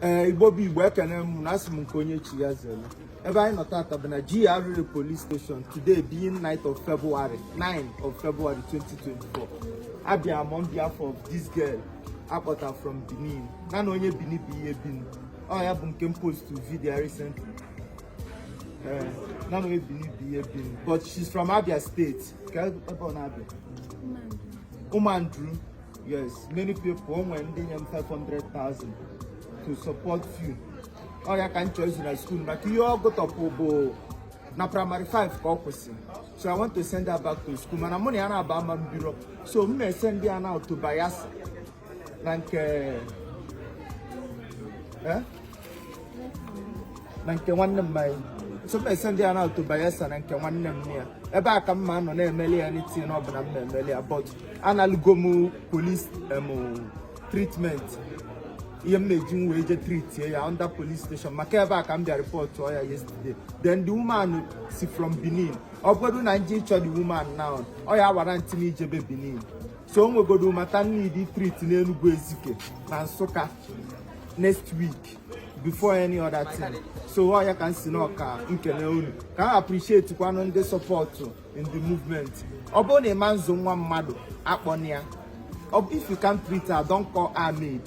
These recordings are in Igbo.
ee igbo bụ igbo ekene m na asị m nke onye chiri ya zere ebe anyị nọ tata bụ na GRA police station today being 9th of February 2024 abịa m on behalf of this girl a kpọta from Benin na na onye Benin bụ ihe Benin ọ ya bụ nke m post to video recently ee na na onye Benin bụ ihe Benin but she's from Abia State kee ebe na Abia Ụmụandru Yes, many people o nwere ndị nye m 500,000 to support you. Ọ ya ka m chọọ izu na school maka ihe ọ gụtọpụ bụ na primary 5 ka ọ kwụsị so i want to send her back to school mana mụ na ya naabọ ama ebiro so m ma-esendi ya now to Bayelsa na nke eh? na nke nwanne m nwaanyị so m esendi ya now to Bayelsa na nke nwanne m ya ebe a ka m ma-anọ na-emeli ya anything ọbụla m na-emeli ya but analugo m police treatment ihe m na-eji m wee je tritie ya under police station maka ebe a ka m bịa rịpọtụọ ya yesterday then the woman si from Benin ọ bụrụ na m je ịchọ the woman now ọ ya awarranti m ijebe Benin so o nwegodo matter m need treat n'Enugu Ezike na Nsụka next week before any other thing so ọ ya ka m sị now ka m kene unu ka m appreciate kwanụ ndị sọpọtụ in the movement ọ bụrụ na ị ma nzụ nwa mmadụ akpọna ya if you can't treat her don't call her maid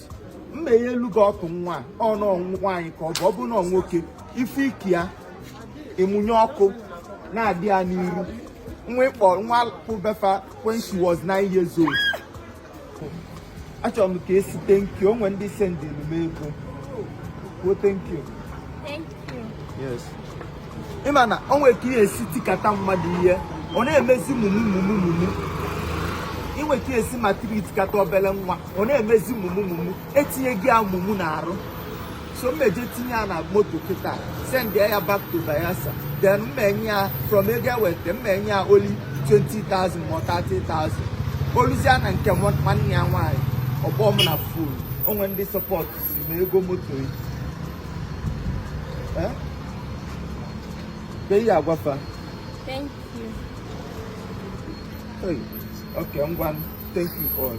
mma ya elu gị ọkụ nwa ọ nọ nwaanyị ka ọ bụ ọ bụrụ na nwoke ife ike ya ịmụnye ọkụ na-adị ya n'iru nwa ị kpọ nwa pụ be fa when she was nine years old achọrọ m ka ị sị thank you o nwe ndị sendịrị m ego kwuo thank you Thank you. yes ị ma na o nwere ka ị ya-esi tikata mmadụ ihe ọ na-emezi mumu mumu mumu inwe ka ị ya-esi maltreat kata obere nwa ọ na-emezi mumu mumu etinye gị ya mumu n'arụ so m ma-eje tinye ya na moto kịta send ya back to Bayelsa then m ma-enye ya from ego e weta m ma-enye ya only 20,000 ma 30,000 o luzia na nke nwanne ya nwaanyị ọ kpọọ m na fon o nwe ndị sọpọtsị m ego moto yi eh? ị ya-agwa fa thank you hey, okay ngwa thank you all